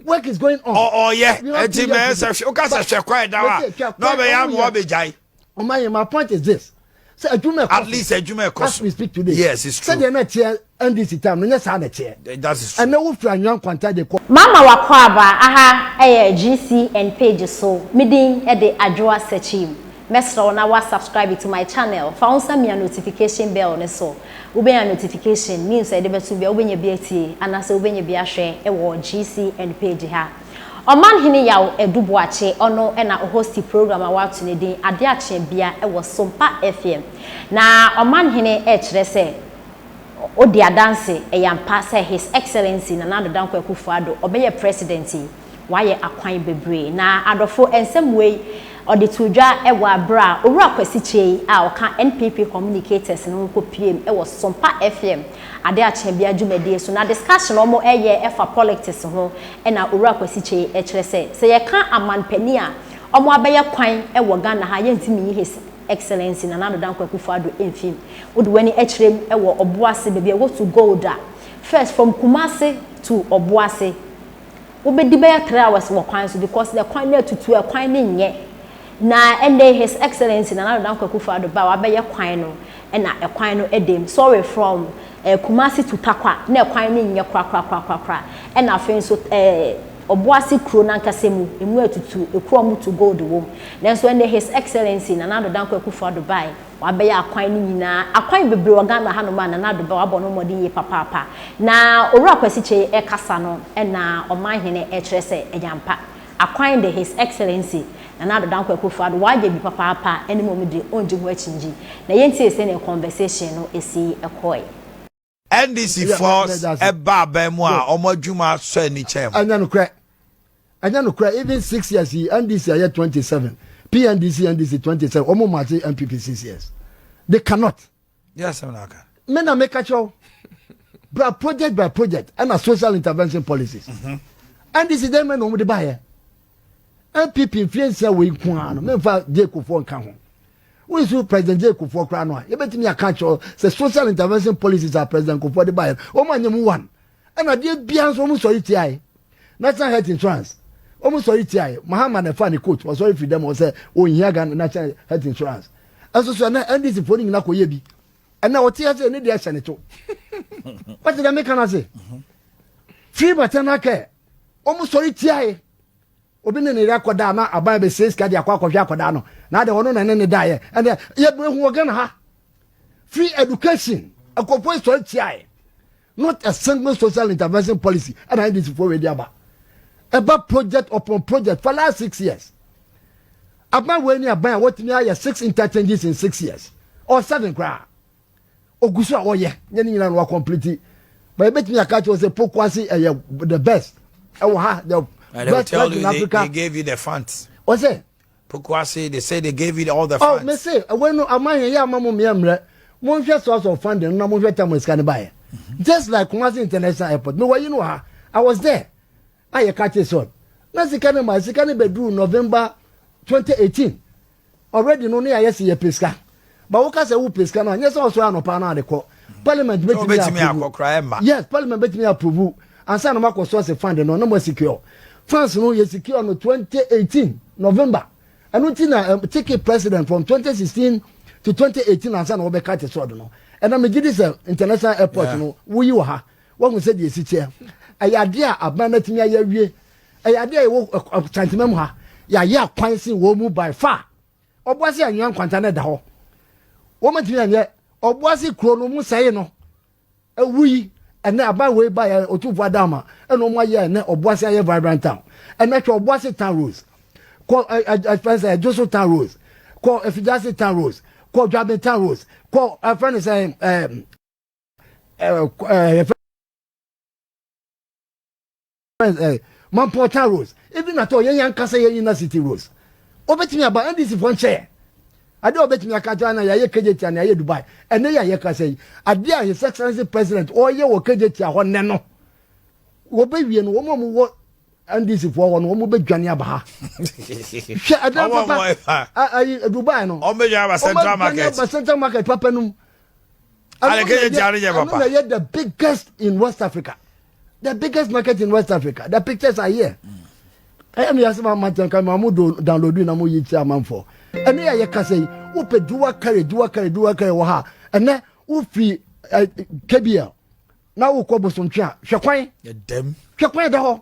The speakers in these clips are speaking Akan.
work is going on. ɔyɛ ɛti bɛyɛ sɛ hwɛ woka sɛ hwɛ kwan da wa na ɔbɛyɛ ama ɔbɛgyae. ɔma yɛ my point is this sɛ adwuma ɛkɔ so at least adwuma ɛkɔ so as we speak today yes it's true sɛdeɛ na ɛteɛ ndc time no nyɛ saa na ɛteɛ that is true ɛnna wofiri anwia nkwanta de kɔ. Mama Wakɔ Aba, aha yɛ GCN page so, me din de Adwoa Sekyim. Mɛsrɛ wo na wa subscribe to my channel, fa wo nsa mia notification bell no so, wobɛnya notification news a yɛde bɛto bia wobɛnya bi atie anaasɛ wobɛnya bi ahwɛ wɔ GCN page ha. Ɔman hene Yaw Adu Boakye ɔno na o hosti program a wɔato no din Ade Akyea Bia wɔ Sompa FM. Na Ɔman hene ɛrekyerɛ sɛ odi adanse, ɛyɛ ampa sɛ His Excellency Nana Addo Dankwa Akufo-Addo ɔbɛyɛ President yi. Wayɛ akwan bebree. Na adɔfo, nsɛm wei ɔde too dwa wɔ aber a Owura Kwesi Kyei a ɔka NPP Communicators no ho kopiem wɔ Sompa FM ade akyea bia dwumadie so. Na discussion a wɔn ɛyɛ ɛfa polictics ho ɛna Owura Kwesi Kyei ɛkyerɛ sɛ, sɛ yɛka aman panin a wɔn abɛyɛ kwan wɔ Ghana ha a yɛntumi nyi His Excellency Nana Addo Dankwa Akufo Addo mfim. Wode w'ani ɛkyerɛm wɔ Obuasi baabi a wɔtu gold a, first from Kumasi to Obuasi, wobɛdi bɛyɛ three hours wɔ kwan so because na kwan no atutu a kwan no nyɛ na ɛnɛ his excellency Nana Addo Dankwa Akufo Addo ba a wabɛyɛ kwan no ɛna ɛkwan no ɛda mu sorry from eh, Kumasi to Takwa na ɛkwan no nyɛ korakorakorakora ɛna afei nso eh, Ɔboase kuro nankasa mu emu atutu ekuro a wɔtu gold wom nanso ɛnɛ his excellency Nana Addo Dankwa Akufo Addo bae Wabɛyɛ akwan no nyinaa. Akwan bebree wɔ Ghana hanom a Nana Addo Daw abɔ no mmɔden yie papaapa. Na Owura Kwasi Kyei ɛkasa no na Ɔmanhene ɛkyerɛ sɛ ɛyɛ ampa. Akwan de His Excellency Nana Addo Dankwa Akuffo Addo wayɛ bi papaapa ɛne mmom de ɔngye ho akyingye. Na yɛntie sɛnea conversation no ɛsii ɛkɔɔe. NDC foɔ ɛba aban mu a wɔn adwuma asɔ ani kyɛn mu. ɛnyɛ nokorɛ ɛnyɛ nokorɛ even six years yi NDC ayɛ twenty seven PNDC NDC twenty seven wɔn mu ase NPP six years they cannot. yɛ asɛm na aka. me na meka kyerɛw bra project by project ɛna social intervention policies mhm. NDC dɛn mɛ na wɔn de baayɛ NPP nfiɛ nsia wɔ yi ko ara no mɛ nfa jeko fo nka ho Wonsu President Jay Kufuor koraa no a, yɛbɛtumi aka akyerɛ wo sɛ social intervention policies a President Kufuor de baeɛ no, wɔn anyɛ mu one. Ɛna adeɛ biara nso wɔn sɔre tiae. National Health Insurance, wɔn sɔre tiae. Mahama na ɛfaa ne coat, wɔsɔre firi dɛm hɔ sɛ wɔnhia Ghana National Health Insurance. Ɛnso so ɛnɛ NDC foɔ no nyinaa kɔyɛ bi. Ɛnɛ ɔte ha sɛ ne deɛ hyɛ ne to. Wɔte dɛ meka no ase. Free maternal care, wɔn sɔre tiae. Obi ne ne yere akɔ da a na aban bɛsɛe sika de akɔ akɔhwɛ akɔdaa no na adɛn ɔno na ɛne ne daeɛ ɛnɛ yɛbɛ hu wɔ Ghana ha free education ɛkɔfoɔ sɔre tiaɛ not a single social intervention policy ɛna NDC foɔ wei de aba ɛba project upon project for last six years aban wei ne aban a wɔtumi ayɛ six interchanges in six years or seven koraa ogu so a ɔyɛ nyɛ ne nyinaa na wa complete but ebetumi aka kyerɛ sɛ pokuase ɛyɛ the best ɛwɔ ha the and best flag in Africa they, they gave you the funds wọ́n sẹ́ pokuase they say they gave you all the oh, funds oh me say ẹ̀wọ́n inú àmọ́ àyàn yẹ àmọ́ mu mìíràn mìíràn mo n hwẹ source of funding na mo n hwẹ tẹmu sika ni ba yẹ just like Kumasi international airport mi wọ yi ni wọ ha I was there. a yɛ ka kye sɛ ɔn na sika no ma sika no bɛ duru November twenty eighteen already no ne ayɛ se yɛ pɛ sika ba wo ka sɛ wo pɛ sika no a nyɛ sɛ ɔsɔre anɔpa no ade kɔ parliament bɛ tumi yɛ approve yes parliament bɛ tumi yɛ approve ansa na mo akɔ source fund no na mo secure funds no yɛ secure no twenty eighteen November ɛno ti na um, take it president from twenty sixteen to twenty eighteen ansa na wɔbɛ ka kye sɛ ɔde no ɛna megye di sɛ international airport no woyi wɔ ha Wahu sɛ deɛ ɛsi teɛ. Ɛyɛ adeɛ a aban no atumi ayɛ awie. Ɛyɛ adeɛ a ɛwɔ kyantema mu ha. Yɛayɛ akwan sen wɔn mu by far. Ɔboase anwea nkwanta no ɛda hɔ. Wɔn atumi anyɛ ɔboase kuro no mu sɛe no. Ɛwu yi ɛnɛ aban wei ba yɛ otumfoɔ adama ɛna wɔn ayɛ ɛnɛ ɔboase ayɛ vibrant town. Ɛnɛ hwɛ ɔboase town rose. Kɔ ɛ ɛ ɛ fɛn sɛ ɛdwoso town rose. Kɔ efigyase town rose. Kɔ dwabe town rose. Kɔ ɛfɛn sɛ ɛɛ. mampɔta rose ebi na tɔ yɛn ankasa yɛn nyina city rose obetumi aba ndc fɔ nkyɛn adeɛ obetumi aka kyerɛ na yɛayɛ kejeti a na yɛayɛ dubai ɛnɛ yɛ a yɛkasa yi adeɛ a his excellency president ɔyɛ wɔ kejeti a hɔ nnɛ no wɔbɛwie no wɔn a wɔwɔ ndc foɔ hɔ no wɔn bɛ dwane aba ha hwɛ ɛdan papa ayi dubai no wɔn bɛ dwane aba central market papa no mu ɛno na ɛyɛ the biggest in west africa the biggest market in west africa the pictures are here ɛyɛ mi yasɛ maa ma tɛn ka maa mo do download na mo yi kyerɛ amanfoɔ ɛno yɛ yɛ kasa yi wopɛ duwa kari duwa kari duwa kari wɔ ha ɛnɛ wofiri ɛ kbl na wokɔ bosontwe a hwɛ kwan hwɛ kwan da hɔ.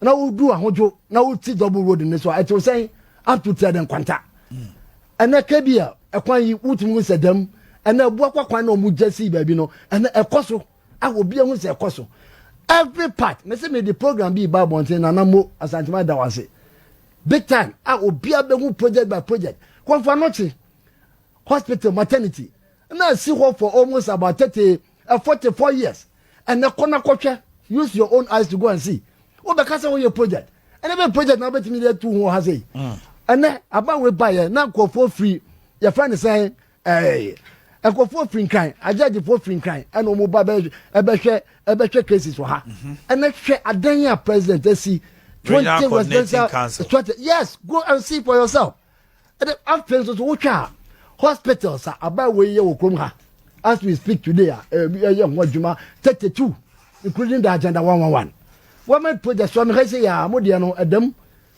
na wodu ahodwo na woti double road no so a ɛtew sɛn ato tia dɛn kwanta hmm. ɛnɛ kɛbi a ɛkwan yi wotumi hu sɛ dɛm ɛnɛ ɛboa kwa kwan na ɔmo gya sii baabi no ɛnɛ ɛkɔ so a obi ehu sɛ ɛkɔ so every part mesi mi di program bi ba abɔnten na na mo asantuma da wase big time a obi abehu project by project kɔnfa nɔkye hospital maternity na esi hɔ for almost about thirty eh, forty four years ɛnɛ kɔ na kɔhwɛ use your own eyes to go and see wobɛka sɛ woyɛ project ɛnɛ bɛ project na wobɛtumi de atu ho ha sɛ yi mm. ɛnɛ aban wei baeɛ na nkurɔfoɔ firi yɛfrɛ ne sɛn ɛɛ nkurɔfoɔ firi nkran agyagyefoɔ firi nkran ɛna wɔn ba ɛbɛhwɛ ɛbɛhwɛ cases wɔ ha mhm. ɛnɛ hwɛ adan a president asi twenty residential twenty yes go and see for yourself. Ɛna afei nso so wotwa a hospitals a abaawa yi yɛ wɔ kurom ha as we speak today a ɛyɛ ho adwuma thirty two including the agenda one one one wɔmɛ project so amehɛ se yɛ a mo deɛ no ɛdam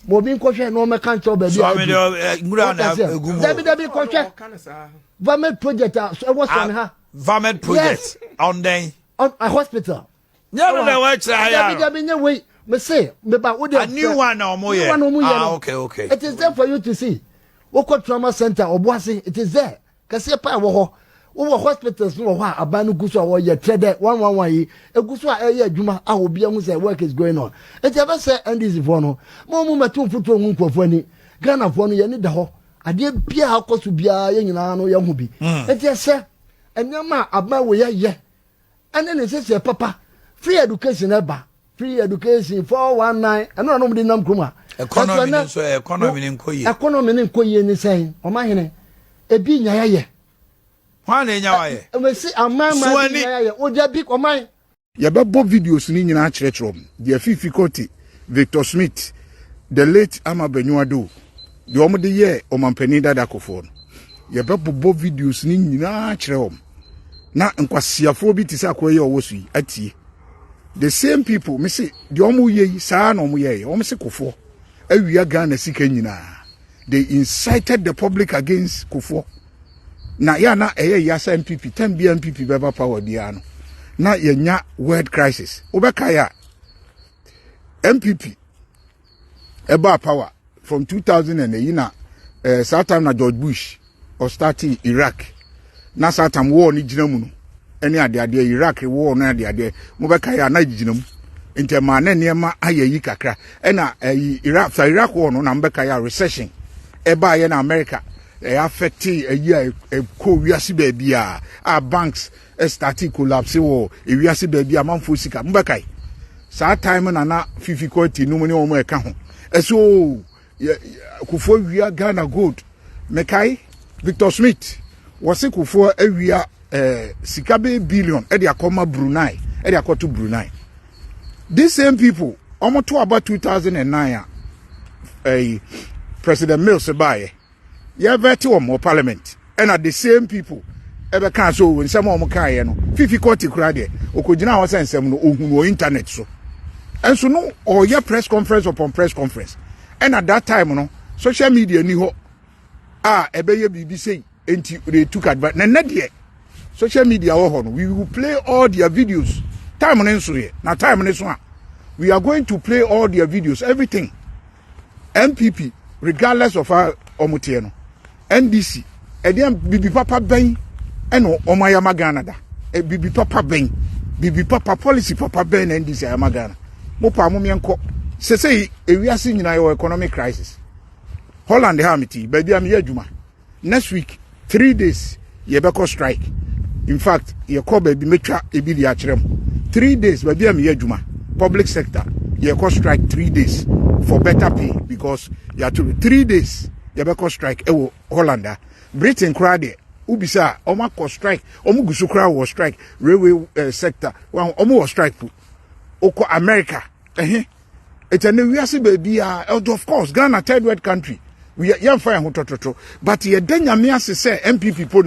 ma obi nkɔhwɛ na wɔmɛka nkyɛw baabi a ɛdu dabi dabi kɔhwɛ vamed project a ɛwɔ sɔmi ha vamed project ɔndɛn hospital Nyɛ no na wɔn kyerɛ ayɛ ano. Dabi nyɛ wei mese meba wo de. A new one na wɔn yɛ. New one wɔn yɛ no. Ah okay okay. It is there for you to see. Wokɔ trauma center ɔboase it is there kɛseɛ paa wɔ hɔ. Wowɔ hospitals no wɔ hɔ a aban no gu so a wɔyɛ trɛ dɛ one one one yi egu so a ɛyɛ adwuma a obi ahu sɛ work is going on. Nti ɛbɛsɛ NDC foɔ no ma wɔn mu mɛto mfuturo ngu nkurɔfoɔ ani. Ghana foɔ no yɛn ani da hɔ adeɛ biara akɔ so biara yɛn nyinaa no yɛn ho bi. Mm. Nti ɛsɛ nneɛma a aban wɔ yɛ yɛ ɛne ne nhyehyɛɛ papa free education ɛba free education four one nine ɛno na ɔmo de nam kurom a. economy ne nso economy ne nkɔ yie. economy ne nkɔ yie ne sɛn ɔmo ahene ebi nya ya yɛ. hwan na enya wa yɛ. ɛmɛsi aman maa bi nya ya yɛ o dabi ɔman. Yɛbɛbɔ videos no nyinaa akyerɛkyerɛ wɔn, deɛ Fifi Korte, Victor Smith, the late Ama Banyuado, deɛ wɔn de yɛɛ ɔmanpanin dada akofoɔ no yɛbɛbobɔ videos no nyinaa kyerɛ wɔn na nkwasiafoɔ bi te sɛ akoa yi a ɔwɔ so yi atie the same people me se deɛ wɔn yɛ yi saa na wɔn yɛɛyɛ wɔn se kofoɔ awia ghana sika nyinaa they incited the public against kofoɔ na yɛ na ɛyɛ yasa npp tɛn bia npp bɛba power biara no na yɛnya world crisis wobɛkae a npp ɛbaa power from 2000 and ɛyi na ɛɛ eh, saa time na george bush ɔstarte iraq na saa time wɔɔ ne gyina mu no ɛne adeadeɛ iraq wɔɔ no adeadeɛ mobɛka yɛ a na gyina mu nti ɛmaa na nneɛma ayɛ yi kakra ɛna ɛyi eh, iraq saa iraq wɔɔ no na mobɛka yɛ a recession ɛbaa yɛ na america ɛyɛ affecte ɛyi a ɛkɔ wiase baabi a a banks startee collapse wɔ ewiase baabi a amanfoɔ sika mobɛkae saa time na na fifi kɔti nom ne wɔn ɛka ho ɛsɛ oo kofoɔ wia ghana gold mekae victor smith wɔse kofoɔ awia eh, sika bɛyɛ billion ɛde akɔma brunei ɛde akɔto brunei these same people wɔn to aba 2009 a ɛyi president mills baeɛ yɛbɛte wɔn wɔ parliament ɛna the same people ɛbɛka sɛ o nsɛm a wɔn kaeɛ no fifi kɔɔte kura deɛ ɔkɔgyina hɔ sɛ nsɛm no ɔhunu wɔ internet so ɛnso no ɔyɛ press conference upon press conference ɛna that time no social media ni hɔ a ɛbɛyɛ biribi sei nti they took advantage na nnɛ deɛ social media wɔ hɔ no we will play all their videos time no nso yɛ na time no so a we are going to play all their videos everything npp regardless of a wɔn teɛ no ndc ɛdeɛ bibi papa bɛn ɛna wɔn ayama ghana da bibi papa bɛn bibi papa policy papa bɛn na ndc ayama ghana mo paa mo mmiɛ nkɔ sese ewiase nyinaa yɛ wɔ economic crisis holland ha mi ti baabi a mi yɛ adwuma Next week three days yɛbɛkɔ strike infact yɛkɔ baabi mɛtwa ebi de akyerɛ mu three days baabi a meyɛ adwuma public sector yɛkɔ strike three days for better pay because yɛato three days yɛbɛkɔ strike ɛwɔ Holland a Britain koraa deɛ wobisa a wɔn akɔ strike wɔn gu so koraa wɔ strike railway eh, sector wɔn wɔ strike po wokɔ America ɛhe. It's an wiase baby ah, of course Ghana third world country. We yɛmfa yɛn ho tɔtɔtɔ but yɛda nyame ase sɛ MPP po na